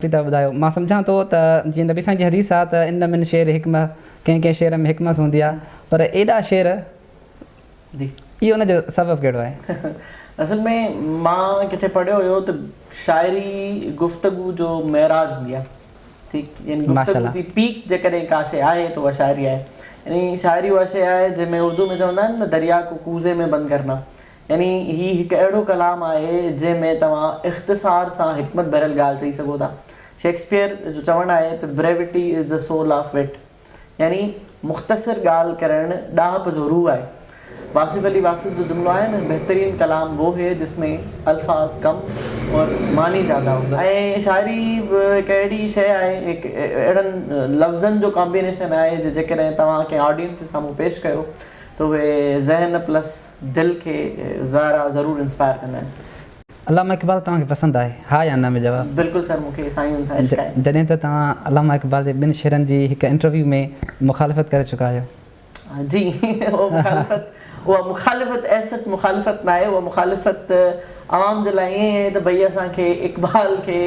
پيدا ٻڌايو، مان سمجهان ٿو ته جيئن نبي سائين جي حديث آ ته ان من شعر حڪمة ڪنهن ڪنهن شعر ۾ حڪمت هوندي آ پر ايڏا شعر جي اهو ان جو سبب ڪهڙو آهي؟ اصل ۾ مان ڪٿي پڙهيو هيو ته شاعري گفتگو جو معراج هوندي آ ٺيڪ يعني گفتگو جي پيڪ جيڪڏهن ڪا شي آهي ته اها شاعري آهي يعني شاعري اها شي آهي جنهن ۾ اردو ۾ چوندا آهن نه دريا ڪو ڪوزي مين بند ڪرنا يعني هي هڪ اهڙو ڪلام آهي، جنهن ۾ توهان اختصار سان حڪمت ڀريل ڳالهه چئي سگهو ٿا. شيڪسپيئر جو چوڻ آهي ته Brevity is the soul of wit يعني مختصر ڳالهه ڪرڻ ڏاهپ جو روح آهي. واصف علي واصف جو جملو آهي نه بهترين ڪلام وو هي جس مين الفاظ ڪم اور معني زياده هو. ۽ شاعري به هڪ اهڙي شيء آهي، هڪ اهڙن لفظن جو ڪامبينيشن آهي، جو جيڪڏهن توهان ڪنهن آڊينس جي سامهون پيش ڪيو، ته اهي ذهن پلس دل کي زارا ضرور انسپائر ڪندا آهن. علامه اقبال توهان کي پسند آهي؟ ها يا نه ۾ جواب. بلڪل سر مون کي سائين جن سان عشق آهي. جڏهن ته توهان علامه اقبال جي ٻن شعرن جي هڪ انٽرويو ۾ مخالفت ڪري چڪا آهيو. جي اها مخالفت اها مخالفت ايز سچ مخالفت ناهي اها مخالفت عوام جي لاء ائين ئي آهي ته ڀئي اسان کي اقبال کي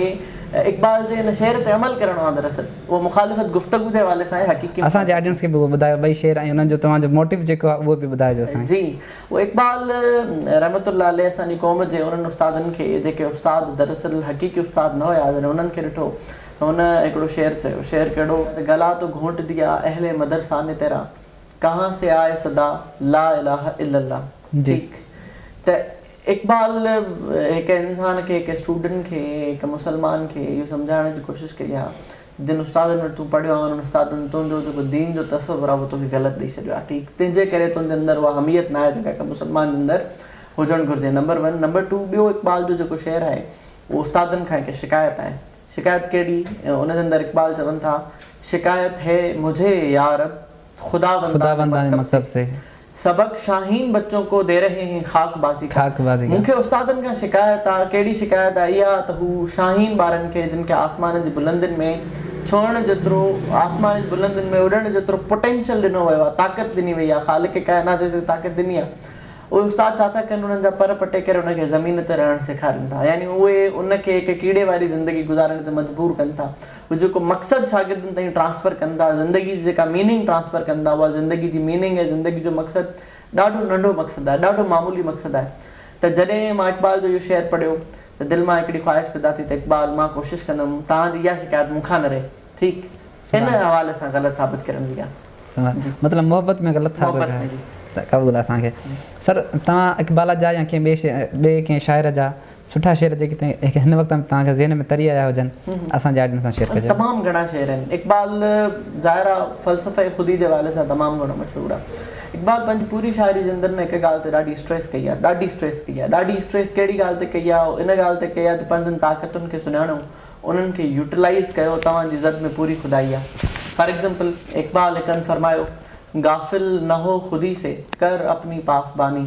اقبال جي ان شعر تي عمل ڪرڻو آهي دراصل اهو مخالفت گفتگو جي حوالي سان آهي حقيقي اسان جي آڊينس کي به اهو ٻڌايو ٻئي شعر ۽ انهن جو توهان جو موٽيو جيڪو آهي اهو به ٻڌائجو سائين. جي اهو اقبال رحمت الله عليه اسان جي قوم جي انهن استادن کي جيڪي استاد دراصل حقيقي استاد نه هيا جڏهن انهن کي ڏٺو ته هن هڪڙو شعر چيو شعر ڪهڙو ته گلا تو گهونٽ ديا اهل مدرسه ني تيرا ڪهان سي آئي صدا لا اله الا الله ٺيڪ ته اقبال هڪ انسان کي، هڪ اسٽوڊنٽ کي، هڪ مسلمان کي اهو سمجهائڻ جي ڪوشش ڪئي آهي ته جن استادن وٽ تون پڙهيو آهين انهن استادن تنهنجو جيڪو دين جو تصور آهي اهو توکي غلط ڏئي ڇڏيو آهي ٺيڪ تنهنجي ڪري تنهنجي اندر اها حميت ناهي جيڪا هڪ مسلمان جي اندر هجڻ گهرجي نمبر ون نمبر ٽو ٻيو اقبال جو جيڪو شعر آهي اهو استادن کان هڪ شڪايت آهي شڪايت ڪهڙي ان جي اندر اقبال چون ٿا شڪايت هي مجهي يارب خداوندانه مڪتب سي. سبق، شاهين بچون ڪو دي رهي هين خاڪ بازي کا. مون کي استادن کان شڪايت آ، ڪهڙي شڪايت آ، اها آ ته هو شاهين ٻارن کي جن کي آسمانن جي بلندين ۾ ڇوهڻ جيترو، آسمانن جي بلندين ۾ اڏڻ جيترو پوٽينشل ڏنو ويو آ، طاقت ڏني وئي آ، خالق ڪائنات جيتري طاقت ڏني آ، اهي استاد ڇا ٿا ڪن انهن جا پر پٽي ڪري ان کي زمين تي رهڻ سيکارين ٿا، يعني اهي ان کي هڪ ڪيڙي واري زندگي گذارڻ تي مجبور ڪن ٿا. هو جيڪو مقصد شاگردن تائين ٽرانسفر ڪن ٿا، زندگي جي جيڪا ميننگ ٽرانسفر ڪن ٿا، اها زندگي جي ميننگ ۽ زندگي جو مقصد ڏاڍو ننڍو مقصد آهي، ڏاڍو معمولي مقصد آهي ته جڏهن مان اقبال جو اهو شعر پڙهيو ته دل مان هڪڙي خواهش پيدا ٿي ته اقبال مان ڪوشش ڪندم توهان جي اها شڪايت مون کان نه رهي ٺيڪ ان حوالي سان غلط ثابت ڪرڻ جي ڳالهه. جي. مطلب محبت ۾ غلط ثابت محبت ۾ جي. ته قبول آهي اسان کي. سر توهان اقبال جا يا ڪنهن ٻئي ڪنهن شاعر جا سٺا شعر جيڪي هن وقت تائين توهان جي ذهن ۾ تري آيا هجن اسان جي آڊينس سان شيئر ڪجو. تمام گهڻا شعر آهن اقبال ظاهر آ فلسفي خودي جي حوالي سان تمام گهڻو مشهور آ اقبال پنهنجي پوري شاعري زندن ۾ هڪ ڳالهه تي ڏاڍي اسٽريس ڪئي آ ڏاڍي اسٽريس ڪئي آ ڏاڍي اسٽريس ڪهڙي ڳالهه تي ڪئي آ ان ڳالهه تي ڪئي آ ته پنهنجن طاقتن کي سڃاڻو انهن کي يوٽيلائيز ڪيو توهان جي زد ۾ پوري خدائي آ فار ايگزامپل اقبال هڪ هنڌ فرمايو غافل نه هو خودي سي ڪر اپني پاسباني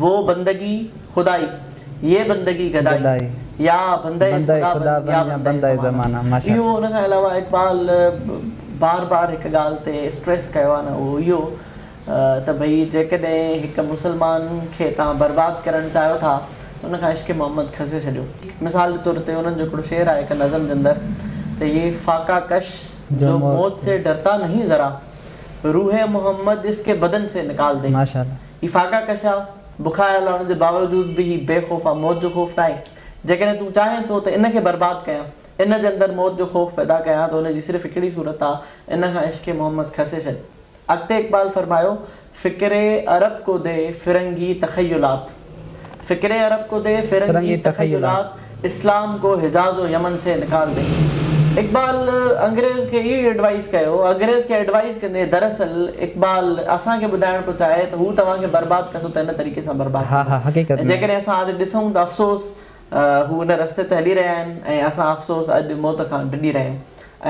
وو بندگي خدائي، يي بندگي گدائي، يا بندئي خدا بن، يا بندئي زمانه. اهو ان کان علاوه اقبال بار بار هڪ ڳالهه تي اسٽريس ڪيو آهي نه اهو اهو ته ڀئي جيڪڏهن هڪ مسلمان کي توهان برباد ڪرڻ چاهيو ٿا ته ان کان عشق محمد کسي ڇڏيو. مثال جي طور تي انهن جو هڪڙو شعر آهي هڪ نظم جي اندر ته يي فاقه ڪش جو موت سي ڊرتا نهين ذرا روح محمد اس ڪي بدن سي نڪال دي. هي ڦاڪا ڪشا، بکايا هلڻ جي باوجود به هي بي خوف آ، موت جو خوف ناهي. جيڪڏهن تون چاهين ٿو ته ان کي برباد ڪيان، ان جي اندر موت جو خوف پيدا ڪيان ته ان جي صرف هڪڙي صورت آ، ان کان عشق محمد کسي ڇڏ. اڳتي اقبال فرمايو، فڪر عرب ڪو دي فرنگي تخيلات. فڪر عرب ڪو دي فرنگي تخيلات. اسلام ڪو حجاز و يمن سي نڪال دي. اقبال انگريز کي اهو ئي ايڊوائيز ڪيو. اگريز کي ايڊوائيز ڪندي دراصل اقبال اسان کي ٻڌائڻ پيو چاهي ته هو توهان کي برباد ڪندو ته هن طريقي سان برباد ڪندو. ۽ جيڪڏهن اسان اڄ ڏسون ته افسوس هو ان رستي تي هلي رهيا آهن ۽ اسان افسوس اڄ موت کان ڊڄي رهيا آهيون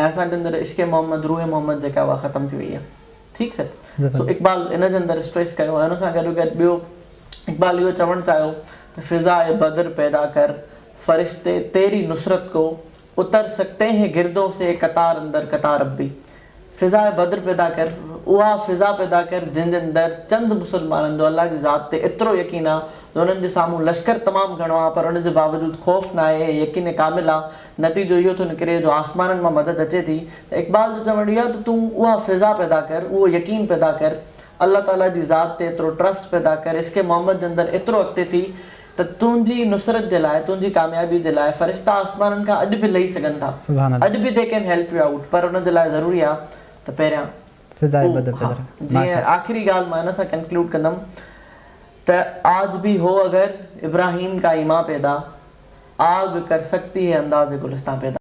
۽ اسان جي اندر عشق محمد، روح محمد جيڪا اها ختم ٿي وئي آهي. ٺيڪ سر. سو اقبال ان جي اندر اسٽريس ڪيو ۽ ان سان گڏوگڏ ٻيو. اقبال اهو چوڻ چاهيو ته فضائي بدر پيدا ڪر، فرشتي تيري نصرت ڪو، اتر سڪتي هين گردون سي، قطار اندر قطار ربي. فضائي بدر پيدا ڪر، اها فضا پيدا ڪر جنهن جي اندر چند مسلمانن جو الله جي ذات تي ايترو يقين آ جو انهن جي سامهون لشڪر تمام گهڻو آ پر ان جي باوجود خوف ناهي ۽ يقين ڪامل آ، نتيجو اهو ٿو نڪري جو آسمانن مان مدد اچي ٿي ته اقبال جو چوڻ اهو آ ته تون اها فضا پيدا ڪر، اهو يقين پيدا ڪر، الله تعاليٰ جي ذات تي ايترو ٽرسٽ پيدا ڪر عشق محمد جي اندر ايترو اڳتي ٿي ته تنهنجي نصرت جي لاء تنهنجي ڪاميابي جي لاء فرشتا آسمانن کان اڄ به لهي سگهن ٿا سبحان الله. اڄ به they can help you out پر ان جي لاء ضروري آ ته پهريان فضاء او بدر ها پدر جيئن ماشاء الله. آخري ڳالهه مان ان سان ڪنڪلوڊ ڪندم ته آج ڀي هو اگر ابراهيم ڪا ايمان پيدا آگ ڪر سڪتي هي انداز گلستان پيدا.